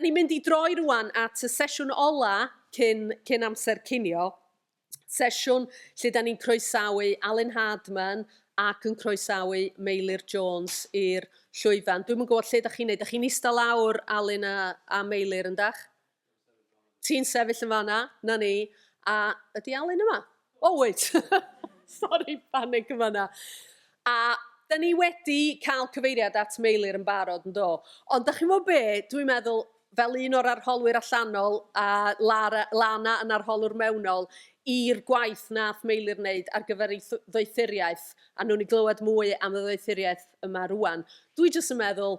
Ni'n mynd i droi rwan at y sesiwn ola cyn, cyn amser cinio, sesiwn lle da ni'n croesawu Alun Hardman ac yn croesawu Meilir Jones i'r llwyfan. Dwi'n yn gwybod lle da chi'n neud. Da chi'n eistedd lawr, Alun a, a Meilir, yndach? Ti'n sefyll yn fanna, na ni, a ydy Alun yma? O, wyt! Sori, panig yn fanna. A da ni wedi cael cyfeiriad at Meilir yn barod, yn do. Ond da chi'n fawr be, dwi'n meddwl, fel un o'r arholwyr allanol a Lara, Lana yn arholwr mewnol, i'r gwaith nath Meilir wneud ar gyfer ei ddoethuriaeth, a nhw'n i glywed mwy am y ddoethuriaeth yma rwan. Dwi jyst yn meddwl,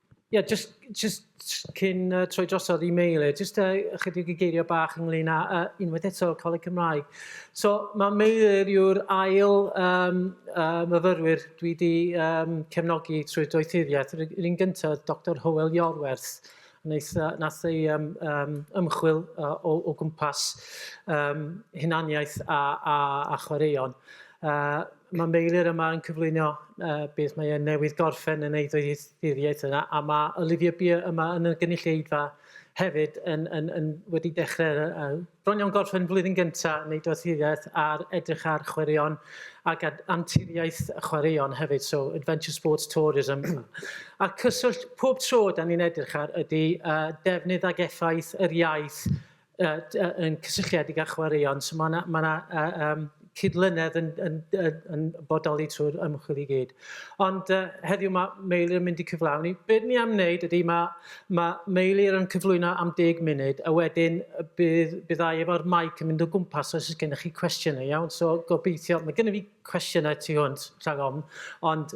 Ie, yeah, just, just cyn uh, troi drosodd i Meile, just uh, ychydig i geiriau bach ynglyn â uh, unwaith eto Coleg Cymraeg. So mae Meilir yw'r ail um, uh, myfyrwyr dwi wedi um, cefnogi trwy doethuriaeth. Yr un gyntaf, Dr Howell Iorwerth, wnaeth, uh, nath ei um, um, ymchwil uh, o, o gwmpas um, hunaniaeth a, a, a chwaraeon. Uh, Mae Meilir yma yn cyflwyno uh, beth mae e'n newydd gorffen yn ei ddoethuriaeth yna, a mae Olivia Beer yma yn y gynulleidfa hefyd yn, yn, yn wedi dechrau uh, bron iawn gorffen flwyddyn gyntaf neu doethuriaeth ar edrych ar chwaraeon ac ar anturiaeth chwaraeon hefyd, so Adventure Sports Tourism. a cyswllt pob tro da ni'n edrych ar ydy uh, defnydd ag effaith yr iaith uh, uh, yn cysylltiedig â chwaraeon. So mae yna ma uh, um, cydlynedd yn, yn, yn, yn bodoli trwy'r ymchwil i gyd. Ond uh, heddiw mae Meilir yn mynd i cyflawni. Be ni am wneud ydy mae, mae Meilir yn cyflwyno am 10 munud a wedyn bydd, byddai efo'r maic yn mynd o gwmpas os ydych gennych chi cwestiynau iawn. So gobeithio, mae gennym fi cwestiynau tu hwnt rhag ofn, ond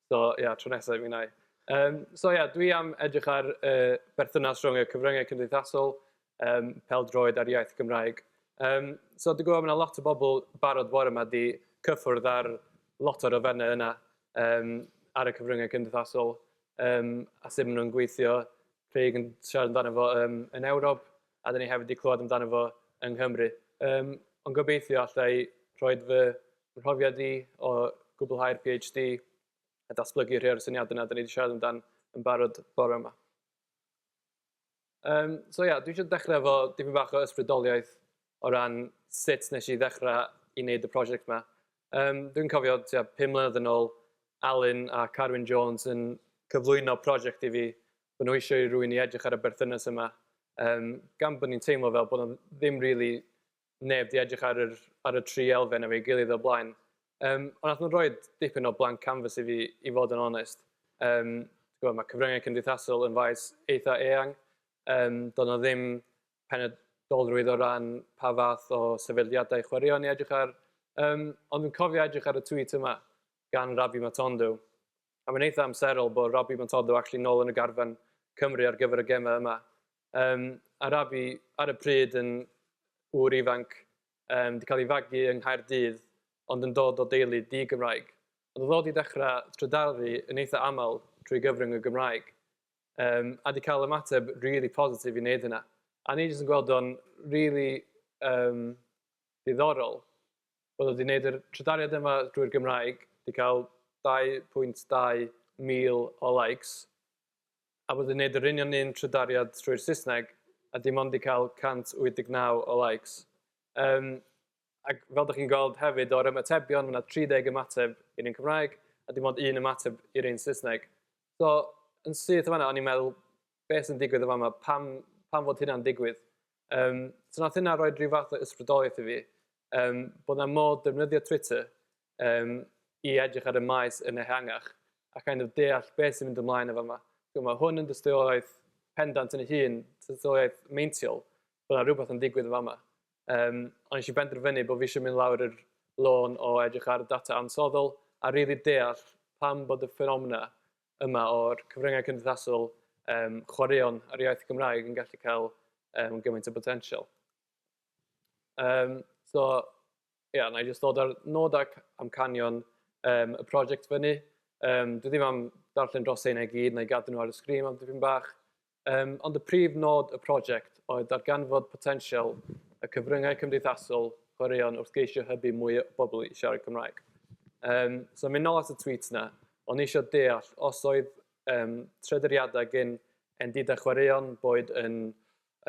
So ie, yeah, tro nesaf, mi nai. Um, so ie, yeah, dwi am edrych ar uh, berthynas rhwng y cyfryngau cymdeithasol, um, peldroed a'r iaith Gymraeg. Um, so dwi'n gwybod mae yna lot o bobl barod fore yma di cyffwrdd ar lot o'r ofennau yna um, ar y cyfryngau cymdeithasol um, a sut maen nhw'n gweithio. Craig yn siarad amdano fo um, yn Ewrop a dyn ni hefyd wedi clywed amdano fo yng Nghymru. Um, ond gobeithio allai rhoi fy Fy mhrofiad i o gwblhau'r PhD a datblygu rhai o'r syniadau yna da ni wedi siarad amdan yn barod bore yma. Um, so ia, yeah, dwi eisiau dechrau efo dipyn bach o ysbrydoliaeth o ran sut nes i ddechrau i wneud y prosiect yma. Um, dwi'n cofio tua 5 mlynedd yn ôl, Alun a Carwyn Jones yn cyflwyno prosiect i fi, bod nhw eisiau i rwy'n i edrych ar y berthynas yma, um, gan bod ni'n teimlo fel bod nhw ddim rili really neb 'di edrych ar yr ar y tri elfen efo'i gilydd o'r blaen. Yym, ond nath nhw roid dipyn o blank canvas i fi, i fod yn onest. Yym, ti'n gwbod, ma' cyfryngau cymdeithasol yn faes eitha eang. Yym, doedd 'na ddim penodolrwydd o ran pa fath o sefydliadau chwaraeon i edrych ar. Yym, ond dwi'n cofio edrych ar y tweet yma gan Rabbi Matondo, a mae'n eitha amserol bod Rabbi Matondo actually nôl yn y garfan Cymru ar gyfer y gemau yma. Yym, Arabi, ar y pryd yn ŵr ifanc, yym, 'di cael ei fagu yng Nghaerdydd ond yn dod o deulu di-Gymraeg. Ond oedd o 'di dechrau trydaru yn eitha aml trwy gyfrwng y Gymraeg, yym, a 'di cael ymateb rili positif i wneud hynna. A o'n i jyst yn gweld o'n rili yym diddorol bod o 'di wneud yr trydariad yma drwy'r Gymraeg, 'di cael 2.2 mil o likes, a bod yn neud yr union un trydariad trwy'r Saesneg a dim ond 'di cael 189 o likes. Yym, ac fel dych chi'n gweld hefyd o'r ymatebion, mae 'na 30 ymateb i'r un Cymraeg a dim ond un ymateb i'r un Saesneg. So, yn syth yn fanna, o'n i'n meddwl, beth sy'n digwydd yn fan'ma? Pam, pam fod hynna'n digwydd? Um, so nath hynna roi rhyw fath o ysbrydoliaeth i fi, um, bod 'na modd defnyddio Twitter um, i edrych ar y maes yn ehangach a kind of deall beth sy'n mynd ymlaen efo yma. So, mae hwn yn dystiolaeth pendant yn ei hun, dystiolaeth meintiol, bod yna rhywbeth yn digwydd efo yma. Um, ond eisiau benderfynu bod fi eisiau mynd lawr yr lôn o edrych ar y data ansoddol a rili really deall pam bod y ffenomena yma o'r cyfryngau cymdeithasol um, chwaraeon ar iaith Gymraeg yn gallu cael um, gymaint o botensial. Um, so, Ia, na i jyst ddod â'r nod ac amcanion um, y prosiect fyny. Um, dwi ddim am darllen dros ein i gyd, na i gadw nhw ar y sgrin am dipyn bach. Um, ond y prif nod y prosiect oedd darganfod potensial y cyfryngau cymdeithasol chwaraeon wrth geisio hybu mwy o bobl i siarad Cymraeg. Um, so mynd nôl at y tweet na, ond eisiau deall os oedd um, trederiadau gen endidau chwaraeon boed yn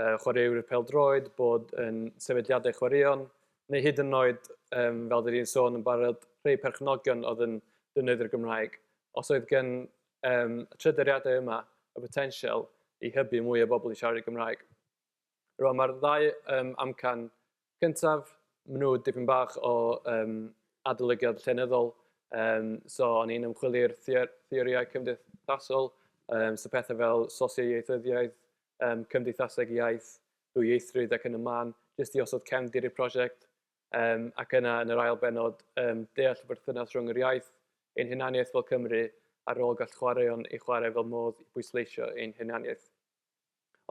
yy chwaraewyr pêl-droed, bod yn sefydliadau chwaraeon, neu hyd yn oed, yym, fel dwi 'di sôn yn barod, rhei perchnogion oedd yn defnyddio'r Gymraeg. Os oedd gen yym, y trydariadau yma y botensial i hybu mwy o bobl i siarad y Gymraeg. Rwan, mae'r ddau yym, amcan cyntaf, maen nhw dipyn bach o yym adolygiad llenyddol, yym so o'n i'n ymchwilio i'r theor- theorïau cymdeithasol, yym so pethau fel sosioieithyddiaeth, yym cymdeithaseg iaith, dwyieithrwydd ac yn y man, jyst i osod cefndir i'r prosiect, yym ac yna yn yr ail bennod yym deall y berthynas rhwng yr iaith, ein hunaniaeth fel Cymry a'r rôl gall chwaraeon ei chwarae fel modd i bwysleisio ein hunaniaeth.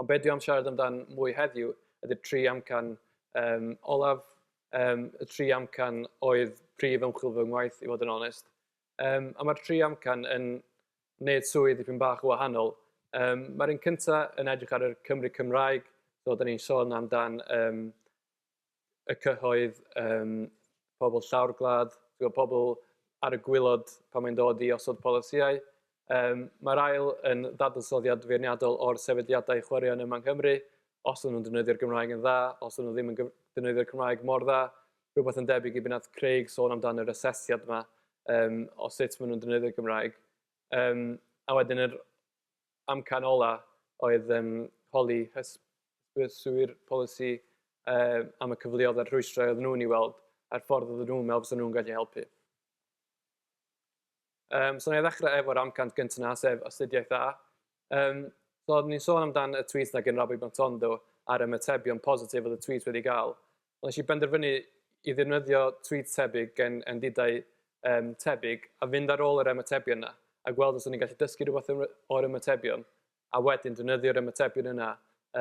Ond be dwi am siarad amdan mwy heddiw ydy'r tri amcan um, olaf, um, y tri amcan oedd prif ymchwil fy ngwaith, i fod yn onest. Um, a mae'r tri amcan yn wneud swydd dipyn bach o wahanol. Um, mae'r un cyntaf yn edrych ar y Cymru Cymraeg, so da ni'n sôn amdan um, y cyhoedd, yym, pobl llawr gwlad, timod, pobl ar y gwaelod pan mae'n dod i osod polisïau. Yym, mae'r ail yn ddadansoddiad feirniadol o'r sefydliadau chwaraeon yma yng Nghymru, os o'n nhw'n defnyddio'r Gymraeg yn dda, os o'n nhw ddim yn defnyddio'r Cymraeg mor dda, rhywbeth yn debyg i be wnaeth Craig sôn amdano yr asesiad yma, yym, o sut maen nhw'n defnyddio'r Gymraeg. Yym, a wedyn yr amcan olaf oedd yym holi hysbyswyr polisi yym am y cyfleoedd a'r rhwystrau oedden nhw'n ei weld a'r ffordd oedden nhw'n meddwl fysa nhw'n gallu helpu. Um, so na i ddechrau efo'r amcant gyntaf yna, sef astudiaeth A. Um, so, ni'n sôn amdan y tweet na gynrabu Matondo a'r ymatebion positif oedd y tweet wedi gael. Wnes i benderfynu i ddefnyddio twît tebyg gan endidau um, tebyg a fynd ar ôl yr ymatebion yna a gweld os o'n i'n gallu dysgu rhywbeth o'r ymatebion a wedyn defnyddio'r ymatebion yna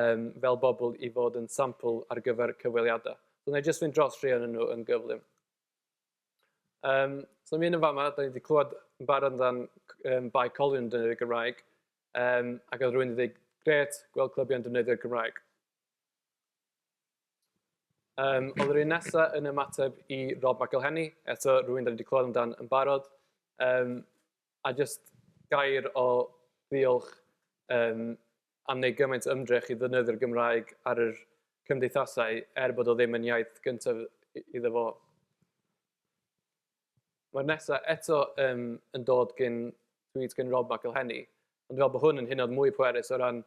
um, fel bobl i fod yn sampl ar gyfer cyfweliadau. So, wna i jyst fynd dros rhai o'n nhw yn gyflym. Um, so, mi yn y fama, da ni wedi clywed yn barod amdan um, Bae Colwyn yn defnyddio'r Gymraeg, um, ac oedd rhywun wedi dweud, gret, gweld clybiau'n defnyddio'r Gymraeg. Yym, oedd yr un nesa yn ymateb i Rob McElhenney, eto rywun dan ni 'di clywed amdan yn barod, yym a jyst gair o ddiolch yym am wneud gymaint o ymdrech i ddefnyddio'r Gymraeg ar yr cymdeithasau er bod o ddim yn iaith gyntaf iddo fo. Mae'r nesa eto yym yn dod gin tweet gin Rob McElhenney, ond dwi me'wl bo hwn yn hynod mwy pwerus o ran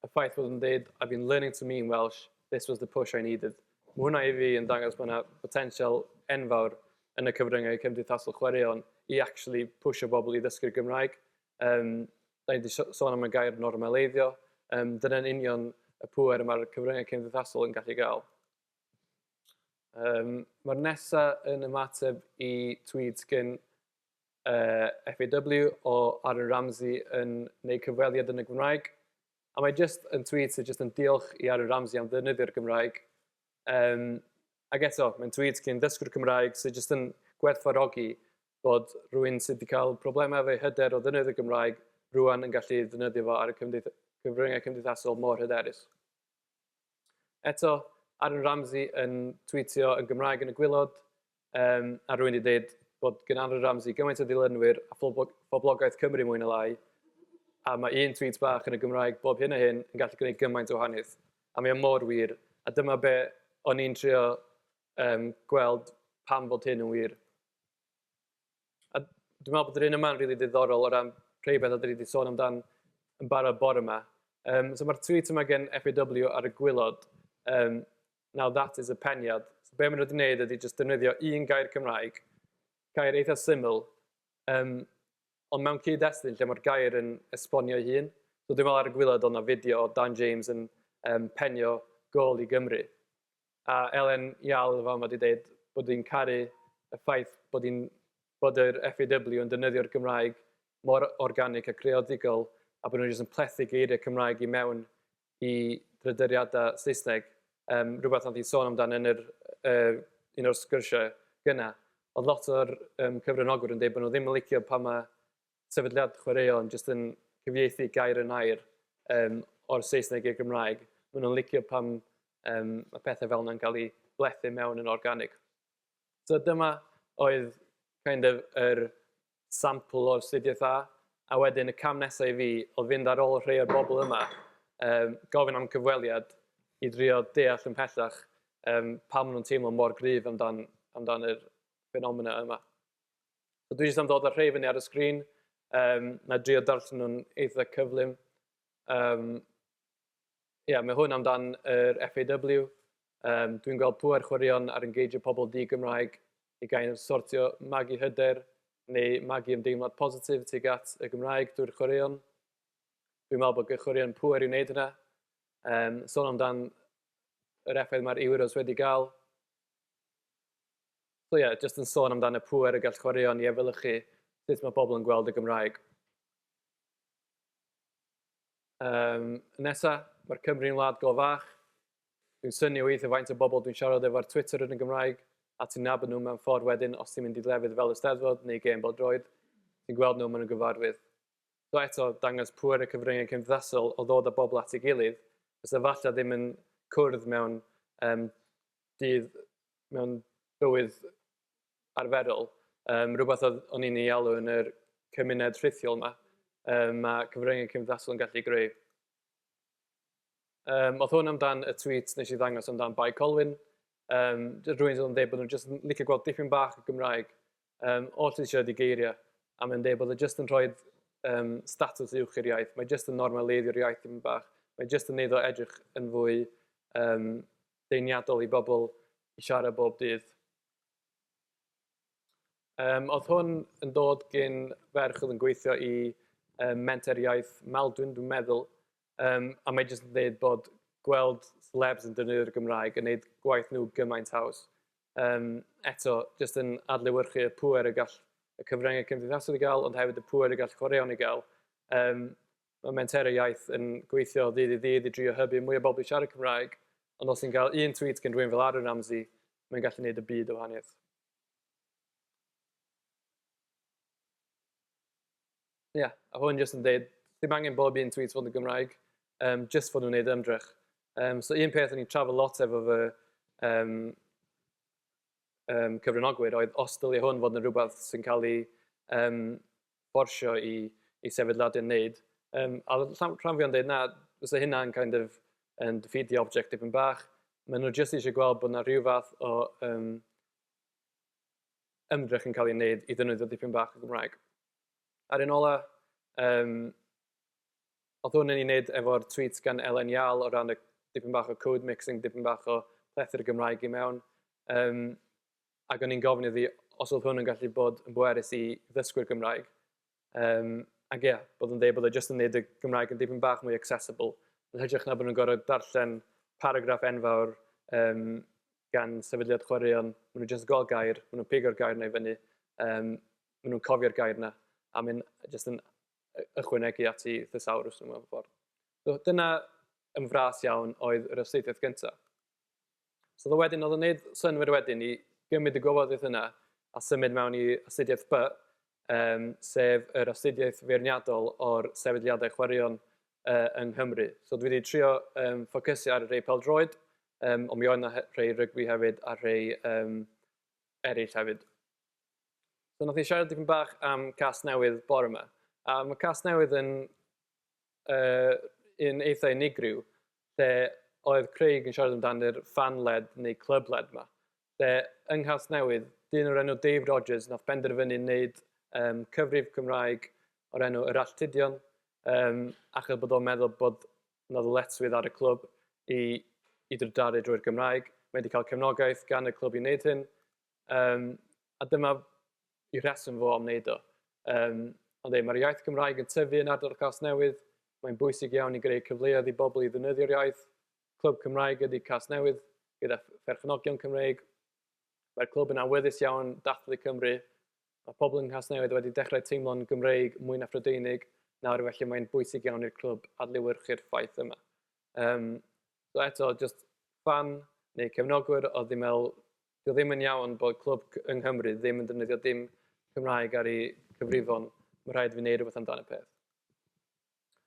y ffaith fod nhw'n dweud I've been learning to me in Welsh, this was the push I needed. Mae hwnna i fi yn dangos bod yna botensial enfawr yn y cyfryngau cymdeithasol chwaraeon i actually pwysio bobl i ddysgu'r Gymraeg. Um, da ni wedi sôn am y gair normaleiddio, um, dyna'n union y pwer mae'r cyfryngau cymdeithasol yn gallu gael. Um, Mae'r nesaf yn ymateb i tweets gen Yy FAW o Aaron Ramsey yn neud cyfweliad yn y Gymraeg a mae jyst yn tweet sydd jyst yn diolch i Aaron Ramsey am ddefnyddio'r Gymraeg yym ac eto mae'n tweet cyn ddysgwr Cymraeg sydd jyst yn gwerthfawrogi bod rhywun sydd wedi cael problemau efo ei hyder o ddefnyddio Gymraeg rŵan yn gallu ddefnyddio fo ar y cyfryngau cymdeithasol mor hyderus. Eto, Aaron Ramsey yn twîtio yn Gymraeg yn y gwylod, um, a rwy'n wedi dweud bod gen Aaron Ramsey gymaint o ddilynwyr a phoblogaeth Cymru mwy na lai, a mae un tweet bach yn y Gymraeg bob hyn a hyn yn gallu gwneud gymaint o wahaniaeth. A mae o mor wir, a dyma be o'n i'n trio um, gweld pam bod hyn yn wir. A dwi'n meddwl bod yr un yma'n rili ddiddorol o ran rhai beth a dwi wedi sôn amdan yn barod bore yma. Um, so mae'r tweet yma gen FAW ar y gwylod, um, now that is a peniad. So be maen nhw wedi gwneud ydy jyst defnyddio un gair Cymraeg, gair eitha syml, um, ond mewn cyd-destun lle mae'r gair yn esbonio ei hun. So dwi'n meddwl ar y gwylod o'na fideo o Dan James yn um, penio gol i Gymru. A Elen Iall fel mae 'di deud bod hi'n caru y ffaith bod hi'n bod yr FAW yn defnyddio'r Gymraeg mor organig a creadigol a bod nhw jyst yn plethu geiriau Cymraeg i mewn i drydariadau Saesneg yym rhywbeth wnaeth hi sôn amdan yn yr yy un o'r sgyrsiau gynna. Oedd lot o'r yym cyfranogwyr yn deud bod nhw ddim yn licio pan mae sefydliad chwaraeon jyst yn cyfieithu gair yn air um, o'r Saesneg i'r Gymraeg. Maen nhw'n licio pam um, mae pethau fel yna'n cael ei blethu mewn yn organig. So dyma oedd kind of yr sampl o'r studiaeth A, a wedyn y cam nesau i fi oedd fynd ar ôl rhai o'r bobl yma, um, gofyn am cyfweliad i drio deall yn pellach um, pam nhw'n teimlo mor gryf amdan, amdan yr ffenomena yma. So dwi jyst am ddod â'r rhei fyny ar y sgrin, um, na drio darllen nhw'n eitha cyflym. Um, yeah, mae hwn amdan yr FAW. Um, dwi'n gweld pwer chwaraeon ar engageio pobl di Gymraeg i gael sortio magu hyder neu magu ymdeimlad positif tuag at y Gymraeg drwy'r chwaraeon. Dwi'n meddwl bod gychwaraeon pwer i wneud hynna. Um, son amdan yr effaith mae'r Euros wedi gael. So ie, jyst yn sôn amdano pŵer y gall chwaraeon i efelychu sut mae pobl yn gweld y Gymraeg. Um, nesa, mae'r Cymru yn wlad go fach. Dwi'n syni weithio faint o bobl dwi'n siarad efo'r Twitter yn y Gymraeg, a ti'n nabod nhw mewn ffordd wedyn os ti'n mynd i lefydd fel y Steddfod neu gêm bodroedd, ti'n gweld nhw, maen nhw'n gyfarwydd. So eto, dangos pŵer y cyfryngau cymdeithasol o ddod â bobl at ei gilydd, fysa falle ddim yn cwrdd mewn um, dydd mewn bywyd arferol, yym rhywbeth oedd o'n i'n ei alw yn yr cymuned rhithiol 'ma, yym ma' cyfryngau cymdeithasol yn gallu greu. Yym oedd hwn amdan y tweet wnes i ddangos amdan Bae Colwyn, yym d- rywun oedd yn deud bod nhw jyst yn licio gweld dipyn bach o Gymraeg yym oll sy'n siarad eu geiriau, a mae'n deud bod e jyst yn rhoid yym statws uwch i'r iaith, mae jyst yn normaleiddio'r iaith dipyn bach, mae jyst yn wneud o edrych yn fwy yym deniadol i bobl i siarad bob dydd. Um, oedd hwn yn dod gyn ferch oedd yn gweithio i um, menter iaith Maldwyn, dwi'n meddwl, um, a mae jyst yn dweud bod gweld celebs yn defnyddio'r Gymraeg yn gwneud gwaith nhw gymaint haws. Um, eto, jyst yn adlewyrchu y pwer y gall y cyfryngau cymdeithasol i gael, ond hefyd y pwer y gall chwaraeon i gael. Um, Mae Menteru Iaith yn gweithio ddydd i ddydd i drio hybu mwy o bobl i siarad Cymraeg, ond os ti'n cael un tweet gen rhywun fel Aaron Ramsey, mae'n gallu neud y byd o wahaniaeth. Ie, yeah, a hwn jyst yn deud, ddim angen bob un tweet fod yn Gymraeg, um, jyst fod nhw'n neud ymdrech. Um, so un peth o'n i'n trafod lot efo fy um, um, cyfranogwyr oedd os dylia hwn fod yn rhywbeth sy'n cael ei um, fforsio i i sefydliadau wneud. Yym a oedd rhan rhan fwya'n deud na fysa hynna'n kind of yn defeatio object tipyn bach. Maen nhw jyst eisiau gweld bod yna rhyw fath o yym ymdrech yn cael ei wneud i ddefnyddio dipyn bach o Gymraeg. A'r un ola yym oedd hwn yn ei wneud efo'r tweet gan Elen Iâl o ran y dipyn bach o code mixing, dipyn bach o plethu'r Gymraeg i mewn. Yym ac o'n i'n gofyn iddi os oedd hwn yn gallu bod yn bwerus i ddysgwyr Gymraeg. Um, ac ie, yeah, bod yn dweud bod e jyst yn gwneud y Gymraeg yn dipyn bach mwy accessible, yn hytrach na bod nhw'n gorfod darllen paragraff enfawr um, gan sefydliad chwaraeon, maen nhw jyst gol gair, maen nhw'n pigo'r gair na i fyny, um, maen nhw'n cofio'r gair na, a maen jyst yn ychwanegu at i thesawrws nhw mewn ffordd. So, dyna ymfras iawn oedd yr astudiaeth gyntaf. So oedd o wedyn, oedd o'n neud synnwyr wedyn i gymryd y gwybodaeth yna a symud mewn i astudiaeth B, um, sef yr astudiaeth feirniadol o'r sefydliadau chwaraeon uh, yng Nghymru. So dwi wedi trio um, ffocysu ar rei peldroed, um, ond mi oedd yna rhai rygbi hefyd a rhai um, eraill hefyd. So nath ni siarad dipyn bach am cas newydd bore yma. A mae cas newydd yn yy un eitha unigryw lle oedd Craig yn siarad amdan yr fan led neu club led ma. Lle yng Nghasnewydd, dyn o'r enw Dave Rogers nath benderfynu wneud um, cyfrif Cymraeg o'r enw Yr Alltudion, um, achos bod o'n meddwl bod na ddyletswydd ar y clwb i, i drydaru drwy'r Gymraeg. Mae wedi cael cefnogaeth gan y clwb i wneud hyn. Um, a dyma y rheswm fo am wneud o. Um, ond ei, mae'r iaith Gymraeg yn tyfu yn ardal Casnewydd, mae'n bwysig iawn i greu cyfleoedd i bobl i ddynydio'r iaith. Clwb Cymraeg ydy Casnewydd, gyda pherchnogion Cymreig. Mae'r clwb yn awyddus iawn dathlu Cymru. Mae pobl yng Nghasnewydd wedi dechrau teimlo'n Gymreig mwy na Phrydeinig nawr, felly mae'n bwysig iawn i'r clwb adlewyrchu'r ffaith yma. Um, so eto, just fan neu cefnogwyr oedd ddim meddwl 'di o ddim yn iawn bod clwb yng Nghymru ddim yn defnyddio dim Cymraeg ar eu cyfrifon, mae'n rhaid i fi wneud rhywbeth amdan y peth.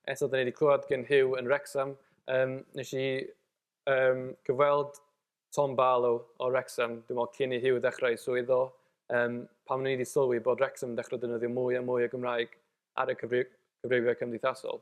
Eto, da ni wedi clywed gen Hugh yn Wrexham, um, nes i um, gyfweld Tom Barlow o Wrexham, dwi'n meddwl cyn i Hugh ddechrau i swydd o, um, pan ni wedi sylwi bod Wrexham yn dechrau defnyddio mwy a mwy o Gymraeg ar y cyfrifau cymdeithasol.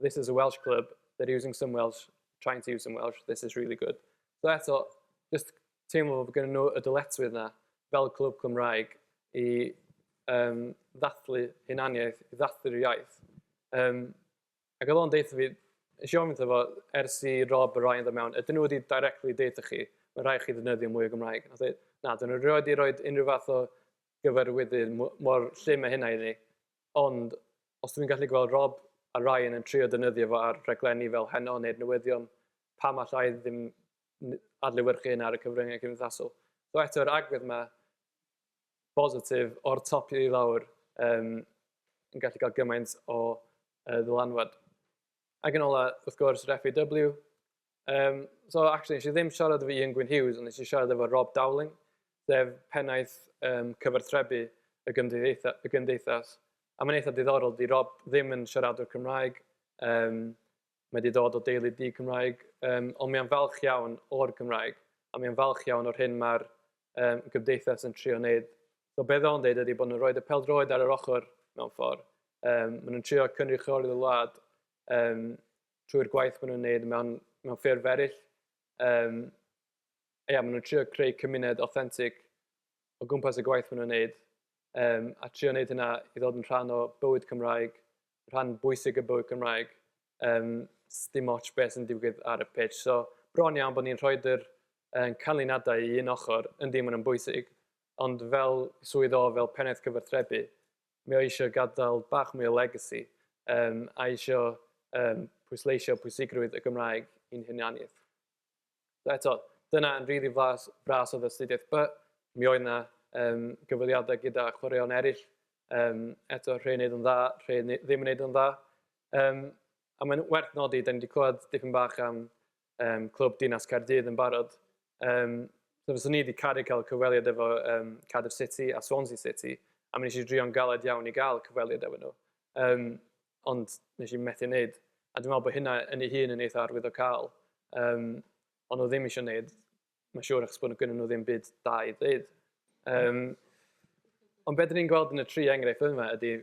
this is a Welsh club, they're using some Welsh, trying to use some Welsh, this is really good. So eto, just teimlo bod gen nhw y dyletwydd na, fel clwb Cymraeg, i um, ddathlu hunaniaeth, i ddathlu'r iaith. Um, ac oedd o'n deitha fi, eisiau ofyn fo, ers i Rob a Ryan ddod mewn, ydyn nhw wedi directly deitha chi, mae rhaid chi ddefnyddio mwy o Gymraeg. Oedd e, na, dyn nhw wedi rhoi unrhyw fath o gyfarwyddyd mor llym a hynna i ni. Ond, os dwi'n gallu gweld Rob a Ryan yn trio defnyddio fo ar raglenni fel Heno neu'r newyddion, pam alla i ddim adlewyrchu hynna ar y cyfryngau cymdeithasol? So eto, yr agwedd 'ma, bositif, o'r top i lawr, um, yn gallu cael gymaint o uh, ddylanwad. Ac yn ola, wrth gwrs, yr FAW, Yym, so actually nes i ddim siarad efo Ian Gwyn Hughes ond nes i siarad efo Rob Dowling, sef pennaeth um, cyfarthrebu y, gymdeitha, y gymdeithas. A mae'n eitha diddorol, di Rob ddim yn siaradwr Cymraeg, um, mae wedi dod o deulu di Cymraeg, um, ond mae'n falch iawn o'r Gymraeg, a mae'n falch iawn o'r hyn mae'r um, gymdeithas yn trio wneud. So beth o'n dweud ydy bod nhw'n rhoi y peldroed ar yr ochr mewn ffordd. Um, maen nhw'n trio cynrychioli'r wlad um, trwy'r gwaith maen nhw'n wneud mewn, mewn ffurf eraill. Um, ia, maen nhw'n trio creu cymuned authentic o gwmpas y gwaith maen nhw'n wneud. Um, a trio wneud hynna i ddod yn rhan o bywyd Cymraeg, rhan bwysig y bywyd Cymraeg. Um, dim ots beth sy'n digwydd ar y pitch. So, bron iawn bod ni'n rhoi'r uh, canlyniadau i un ochr, yndi maen nhw'n bwysig, ond fel swydd o, fel pennaeth cyfarthrebu, Mae o eisiau gadael bach mwy o legacy yym a eisiau yym pwysleisio pwysigrwydd y Gymraeg i'n hunaniaeth. So eto, dyna yn rili flas, fras oedd astudiaeth By. Mi oedd yna um, gyfweliadau gyda chwaraeon eraill, um, eto rhai yn neud yn dda, rhai ddim yn neud yn dda. Um, a mae'n werth nodi, da ni wedi clywed dipyn bach am um, Clwb Dinas Caerdydd yn barod. Um, so fyswn ni wedi caru cael cyfweliad efo um, Cardiff City a Swansea City, a mi nes i drio'n galed iawn i gael cyfweliad efo nhw. Um, ond nes i methu wneud. A dwi'n meddwl bod hynna yn ei hun yn eitha arwyddo cael. Um, ond nhw ddim eisiau wneud Mae'n siŵr achos bod nhw gynnu nhw ddim byd da i ddweud. Um, ond beth ni'n gweld yn y tri enghraifft yma ydy,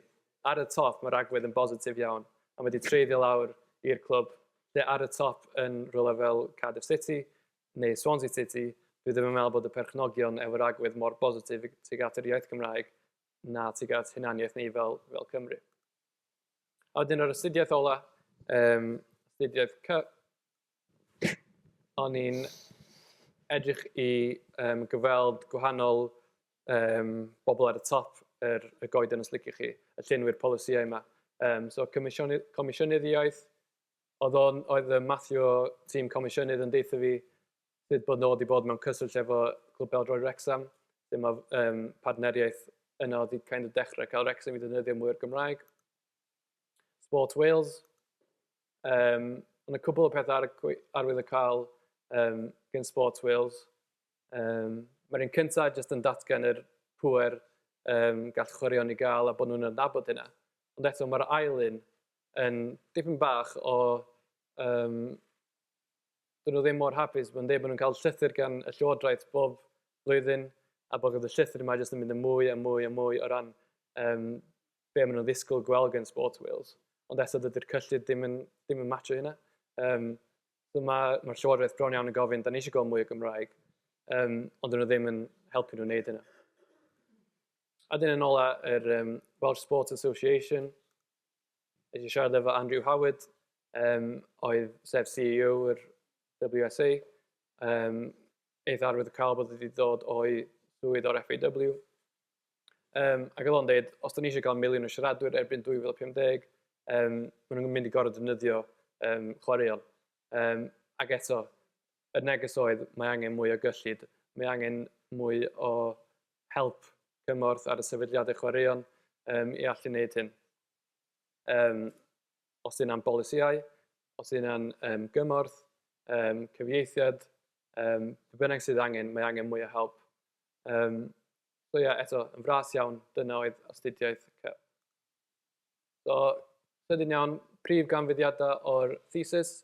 ar y top mae'r agwedd yn bositif iawn, a mae wedi treiddio lawr i'r clwb lle ar y top yn rhywle fel Cardiff City neu Swansea City, dwi ddim yn meddwl bod y perchnogion efo'r agwedd mor bositif tuag at yr iaith Gymraeg na tuag at hunaniaeth ni fel, fel Cymru. A wedyn yr astudiaeth ola, um, astudiaeth cyp, O'n i'n edrych i yym gyfweld gwahanol yym bobl ar y top yr y goeden os liciwch chi, y llenwi'r polisïau 'ma. Yym so comisiyny- comisiynydd iaith oedd o'n oedd yym Mathew o tîm comisiynydd yn deutha fi sut bod nhw 'di bod mewn cyswllt efo Clwb Pêl-droed Wrecsam, lle ma' yym partneriaeth yna oedd 'di kind of dechrau cael Wrecsam i ddefnyddio mwy o'r Gymraeg. Sport Wales. Yym, ond y cwbl o pethe ar y gwe- arwydd y cael yym gen Sports Wales. Yym, Mae'r un cyntaf jyst yn datgan yr pŵer yym gall chwaraeon i gael a bod nhw'n adnabod hynna. Ond eto mae'r ail un yn dipyn bach o yym, dyn nhw ddim mor hapus bod nhw'n deud bod nhw'n cael llythyr gan y Llywodraeth bob blwyddyn a bod y llythyr yma jyst yn mynd yn mwy a mwy a mwy o ran yym be maen nhw'n ddisgwyl gweld gan Sports Wales. Ond eto dydy'r cyllid ddim yn, ddim yn matcho hynna. Um, so mae, mae'r llywodraeth bron iawn yn gofyn, da ni eisiau gweld mwy o Gymraeg, um, ond dyn nhw ddim yn helpu nhw wneud hynna. A dyn yn ôl yr um, Welsh Sports Association, eisiau siarad efo Andrew Howard, um, oedd sef CEO yr WSA, um, eith arwydd y cael bod wedi dod o'i swydd o'r FAW, Yym, ac oedd o'n deud, os dan ni isio cael miliwn o siaradwyr erbyn 2050, yym, maen nhw'n mynd i gorfod defnyddio yym, chwaraeon. Yym, ac eto, y neges oedd, mae angen mwy o gyllid, mae angen mwy o help cymorth ar y sefydliadau chwaraeon um, i allu wneud hyn. Um, os yna'n bolisïau, os yna'n um, gymorth, um, cyfieithiad, um, bynnag sydd angen, mae angen mwy o help. Um, So ie, eto, yn fras iawn, dyna oedd astudiaeth Kel. So, sydyn iawn, prif ganfyddiadau o'r thesis.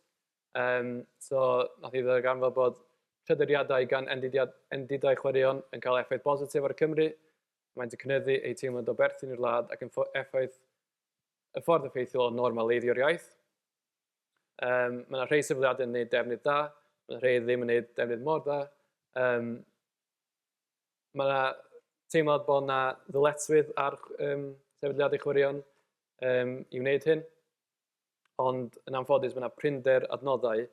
Um, so, nath i ddarganfod bod tryderiadau gan endidau chwaraeon yn cael effaith bositif ar Cymru. Mae'n cynyddu eu teimlad o berthyn i'r wlad ac yn effaith y ffordd effeithiol o normaleiddio'r iaith. Um, mae yna rhai sefydliadau yn gwneud defnydd da, mae yna rhai ddim yn gwneud defnydd mor da. Um, Mae yna teimlad bod yna ddyletswydd ar um, sefydliadau chwaraeon um, i wneud hyn, ond yn anffodus mae yna prinder adnoddau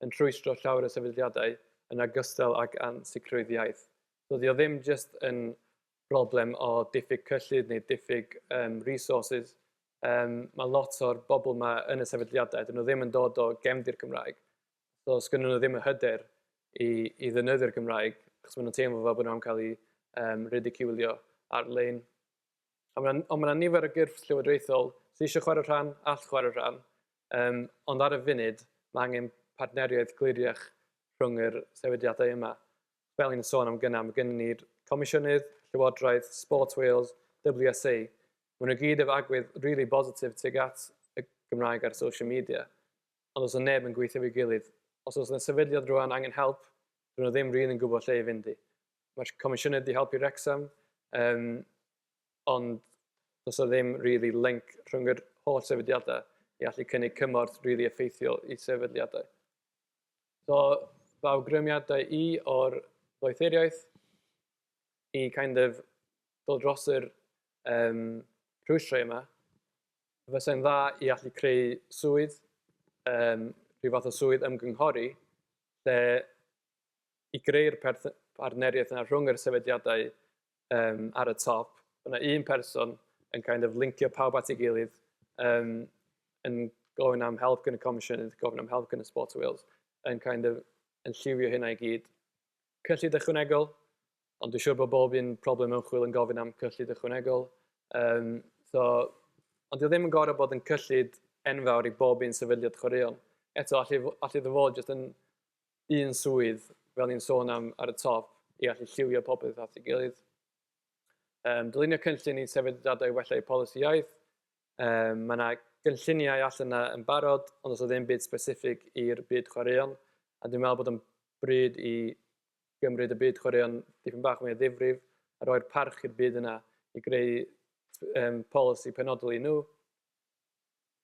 yn rhwystro llawer o sefydliadau yn agostal ac ansicrwydd iaith. So, dio ddim jyst yn broblem o diffyg cyllid neu diffyg um, resources. Um, mae lot o'r bobl yma yn y sefydliadau, dyn nhw ddim yn dod o gefndir Cymraeg. does gennyn nhw ddim y hyder i, i ddefnyddio'r Gymraeg, achos maen nhw'n teimlo fel bod nhw'n cael ei um, ridiculio ar-lein. Ond mae yna ma nifer o gyrff llywodraethol sydd eisiau chwarae rhan, all chwarae rhan, um, ond ar y funud mae angen partneriaeth gliriach rhwng yr sefydliadau yma. Fel ni'n sôn am gynnau, mae gennym ni'r Comisiynydd, Llywodraeth, Sports Wales, WSA. Mae nhw gyd efo agwedd really positif tuag at y Gymraeg ar social media. Ond os oedd neb yn gweithio efo'i gilydd, os oes 'na sefydliad rŵan angen help, dydyn nhw ddim rili'n gwybod lle i fynd i. Mae'r Comisiynydd 'di helpu Wrecsam, yym, ond does 'na ddim rili link rhwng yr holl sefydliadau i allu cynnig cymorth rili effeithiol i sefydliadau. So, fy awgrymiadau i o'r ddoethuriaeth i kind of dod dros yr yym rhwystrau yma, Fysa hi'n dda i allu creu swydd, yym rhyw fath o swydd ymgynghori lle i greu'r perth- partneriaeth 'na rhwng yr sefydliadau yym ar y top, bod 'na un person yn kind of lincio pawb at ei gilydd, yym yn gofyn am help gan y Comisiynydd, gofyn am help gan y Sport Wales, yn kind of yn lliwio hynna i gyd. Cyllid ychwanegol, Ond dwi'n siŵr bod bob un problem ymchwil yn gofyn am cyllid ychwanegol. Um, so, ond dwi ddim yn gorau bod yn cyllid enfawr i bob un sefydliad chwaraeon. Eto, allu, allu dy fod jyst yn un swydd, fel ni'n sôn am ar y top, i allu lliwio popeth at ei gilydd. Um, dylunio cynllun i sefydliadau wella eu polisi iaith. Um, mae yna gynlluniau allan yna yn barod, ond os o ddim byd specific i'r byd chwaraeon, a dwi'n meddwl bod yn bryd i gymryd y byd chwaraeon dipyn bach mwy o ddifrif a rhoi'r parch i'r byd yna i greu um, polisi penodol i nhw.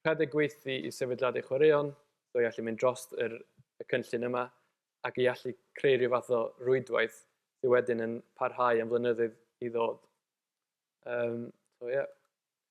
Rhedeg gweithdy i sefydliadau chwaraeon, so i allu mynd dros yr, y cynllun yma, ac i allu creu rhyw fath o rwydwaith sydd wedyn yn parhau am flynyddoedd i ddod. Um, so, yeah.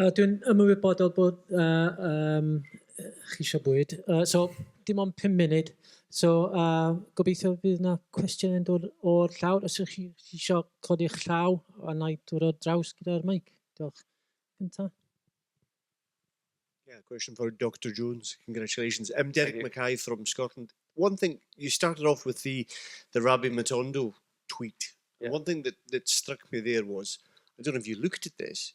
Yy dwi'n ymwybodol bod yy yym yy chi isio bwyd. Yy so dim ond pum munud. So yy gobeithio bydd 'na cwestiwn yn dod o'r llawr. Os ydych chi chi isio codi'ch llaw a wna i dod ar draws gyda'r meic. Diolch. Gynta'. Yeah, question for Dr. Jones. Congratulations. I'm Derek Mackay from Scotland. One thing, you started off with the, the Rabbi Matondo tweet. Yeah. One thing that, that struck me there was, I don't know if you looked at this,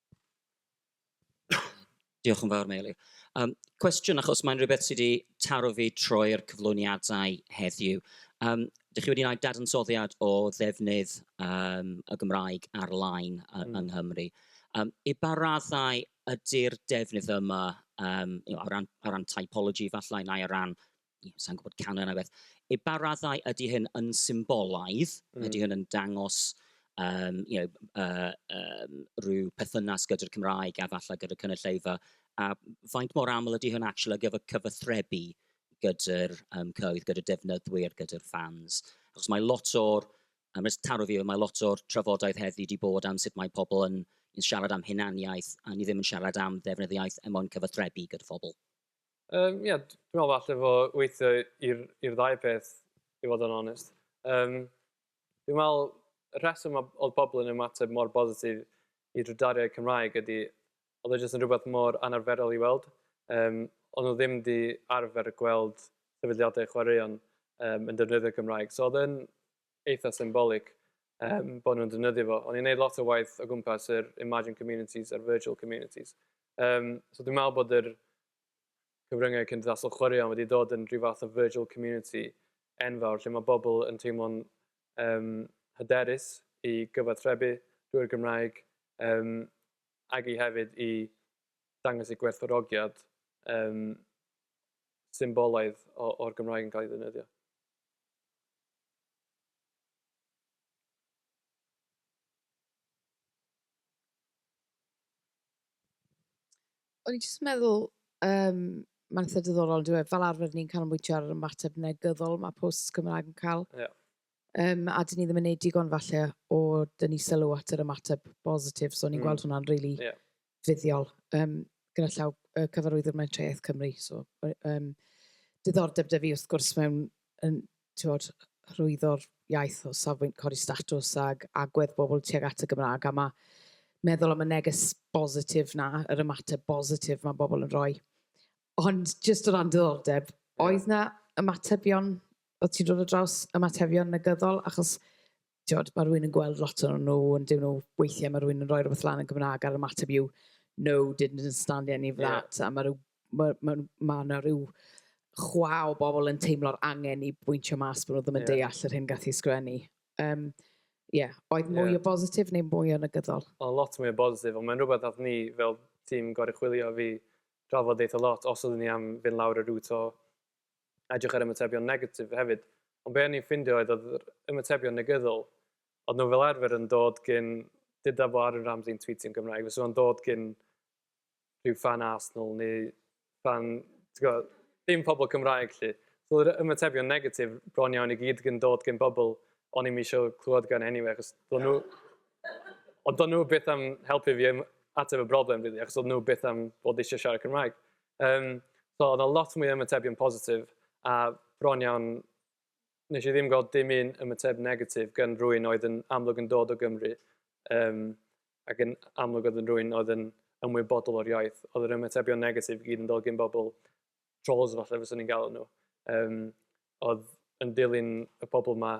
Diolch yn fawr, Meiri. Yym, cwestiwn, achos mae'n rhywbeth sydd wedi taro fi troi'r cyflwyniadau heddiw. Yym, dych chi wedi gwneud dadansoddiad o ddefnydd yym y Gymraeg ar-lein yy yng Nghymru. Yym, i ba raddau ydy'r defnydd yma yym, o ran o ran typology efallai, neu o ran ie, sa'n gwybod canran neu beth. I ba raddau ydy hyn yn symbolaidd? Mm. Ydy hyn yn dangos um, you know, uh, um, rhyw perthynas gyda'r Cymraeg a falle gyda'r cynulleidfa? A faint mor aml ydy hyn actually ar gyfer cyfathrebu gyda'r um, cyhoedd, gyda'r defnyddwyr, gyda'r fans? Achos mae lot o'r, um, rhaid taro fi, mae lot o'r trafodaeth heddi wedi bod am sut mae pobl yn, yn siarad am hunaniaeth a ni ddim yn siarad am ddefnydd iaith er mwyn cyfathrebu gyda phobl. Yym ie dwi me'wl falle fo weithio i'r i'r ddau peth i fod yn onest. Yym dwi me'wl y rheswm ma' odd pobol yn ymateb mor bositif i drydariaeth Cymraeg ydi odd e jyst yn rwbeth mor anarferol i weld yym o'n nw ddim 'di arfer gweld sefydliade chwaraeon yym yn defnyddio Cymraeg so odd e'n eitha' symbolig yym bod nhw'n defnyddio fo. O'n i'n neud lot o waith o gwmpas yr imagined communities a'r virtual communities. Um, so dwi'n meddwl bod yr cyfryngau cymdeithasol chwaraeon wedi dod yn rhyw fath o virtual community enfawr lle mae bobl yn teimlo'n um, hyderus i gyfathrebu drwy'r Gymraeg um, ac i hefyd i dangos eu gwerthfawrogiad um, symbolaidd o'r Gymraeg yn cael ei ddefnyddio. O'n i jyst yn meddwl, yym, mae'n eitha diddorol, dyw e, fel arfer ni'n canolbwyntio ar yr ymateb negyddol mae posts Cymraeg yn cael. Ie. Um, a dyn ni ddim yn neud digon falle o dyn ni sylw at yr ymateb bositif, so o'n i'n mm. gweld hwnna'n really yeah. fuddiol yym gyda llaw yy Cyfarwyddwr Mentrau Cymru, so yy yym diddordeb 'da fi wrth gwrs mewn yn t'wod hyrwyddo'r iaith o safbwynt codi statws ag agwedd bobl tuag at y Gymraeg a ma' meddwl am y neges bositif 'na, yr ymateb bositif ma' bobl yn rhoi. Ond jyst o ran diddordeb, oedd 'na ymatebion, o't ti'n dod ar draws ymatebion negyddol achos tibod, mae rhywun yn gweld lot o'n nhw, ond dyn nhw, weithiau mae rhywun yn rhoi rhywbeth lan yn Gymraeg a'r ymateb yw, no, didn't understand any of that. Yeah. A mae rhyw, ma, ma, ma yna rhyw chwa o bobl yn teimlo'r angen i bwyntio mas bod nhw ddim yn yeah. deall yr hyn gath i sgrennu. Um, yeah. oedd mwy yeah. o bositif neu mwy o negyddol? O, lot mwy o bositif, ond mae'n rhywbeth oedd ni fel tîm gorau chwilio fi drafod eitha lot, os oeddwn ni am fynd lawr y rŵt o edrych ar ymatebion negatif hefyd, ond be o'n i'n ffindio oedd oedd yr ymatebion negyddol, oedd nhw fel arfer yn dod gyn, dyda fo Aaron Ramsey yn tweetio'n Gymraeg, fysa fo'n dod gyn rhyw fan Arsenal neu fan, ti'n gwybod, dim pobl Cymraeg lle. So yr ymatebion negatif bron iawn i gyd gyn dod gyn bobl o'n i'n eisiau clywed gan anyway, achos do'n nhw... Ond do'n nhw beth am helpu fi ateb y broblem, really, achos oedd nhw beth am bod eisiau siarad Cymraeg. Um, so, oedd lot mwy ymatebion positif, a bron iawn, nes i ddim gweld dim un ymateb negatif gan rwy'n oedd yn amlwg yn dod o Gymru, um, ac yn amlwg oedd yn rwy'n oedd yn ymwybodol o'r iaith. Oedd yr ymatebion negatif gyd yn dod gen bobl trolls falle fyswn ni'n galw nhw. Um, oedd yn dilyn y pobl yma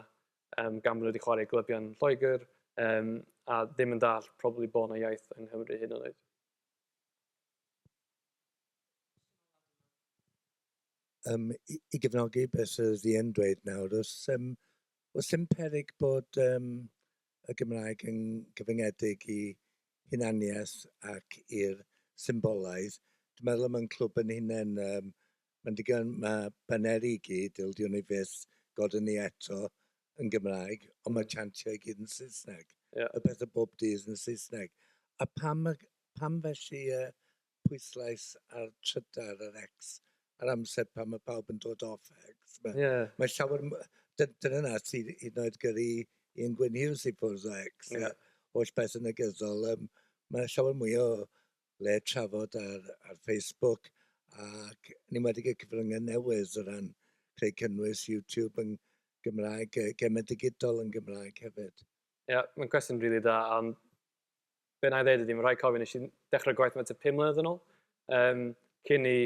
um, gan bod nhw wedi chwarae glybion Lloegr um, a ddim yn dall probably bod yna iaith yng Nghymru hyn yn oed. Yym i i gefnogi be sy sy yn dweud nawr oes yym oes dim peryg bod yym y Gymraeg yn gyfyngedig i hunaniaeth ac i'r symbolaidd? Dwi'n meddwl am ein clwb ein hunain yym Mae'n ddigon, mae baneri i gyd, ildio ni fyth, gode ni eto, yn Gymraeg, ond mae chantiau i gyd yn Saesneg. Ie. Y pethau bob dydd yn Saesneg. A pam y... pam felly y pwyslais ar trydar, yr X, ar amser pan mae pawb yn dod off X? Mae... Ie. ...mae llawer m-... D- dyna 'na sydd hyd yn oed gyrru Ian Gwyn Hughes i ffwrdd o X... Ie. ...a holl beth yn negyddol. Yym, mae 'na llawer mwy o le trafod ar ar Facebook ac yn enwedig y cyfryngau newydd o ran creu cynnwys YouTube yn Gymraeg, yy gemau digidol yn Gymraeg hefyd. Ie, yeah, mae'n cwestiwn rili really da, am be na i ddweud ydy, mae'n rhaid cofio nes i dechrau gwaith yma tua pum mlynedd yn ôl, um, cyn i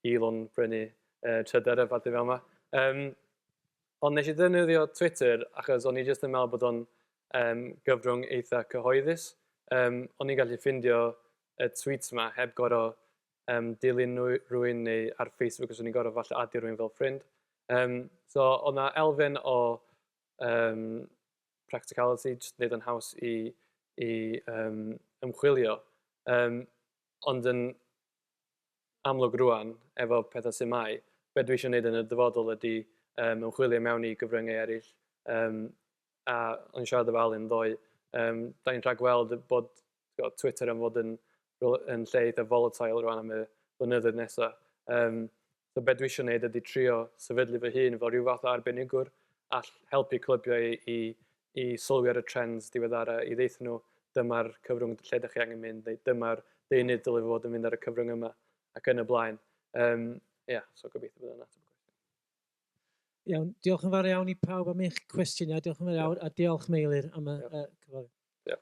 Elon brynu uh, trydar y parti fel yma. Um, Ond nes i ddefnyddio Twitter achos o'n i jyst yn meddwl bod o'n um, gyfrwng eitha cyhoeddus. Um, o'n i'n gallu ffindio y tweets yma heb gorau um, dilyn rwy'n neu ar Facebook os o'n i'n gorau falle adio rwy'n fel ffrind. Um, so o'n na elfen o um, practicality, jyst wneud o'n haws i, i um, ymchwilio. Um, ond yn amlwg rŵan efo petha sut mae, be dwi isio neud yn y dyfodol ydi yym ymchwilio mewn i gyfryngau eryll yym a o'n i'n siarad efo Alun ddoe yym 'dan ni'n rhagweld bod t'gwod Twitter yn fod yn yn lle eitha' volatile rŵan am y blynyddoedd nesa yym So be dwi isio neud ydi trio sefydlu fy hun fel rhyw fath o arbenigwr all helpu clybiau i i i sylwi ar y trends diweddara i ddeutho nhw dyma'r cyfrwng lle dych chi angen mynd neu dyma'r deunydd dyle fod yn mynd ar y cyfrwng yma ac yn y blaen. Yym ia, so gobeithio bod hwnna'n ateb y cwestiwn. Iawn, diolch yn fawr iawn i pawb am eich cwestiynau. Diolch yn fawr iawn a diolch Meilir am y yeah. uh, cyflawni. Yeah.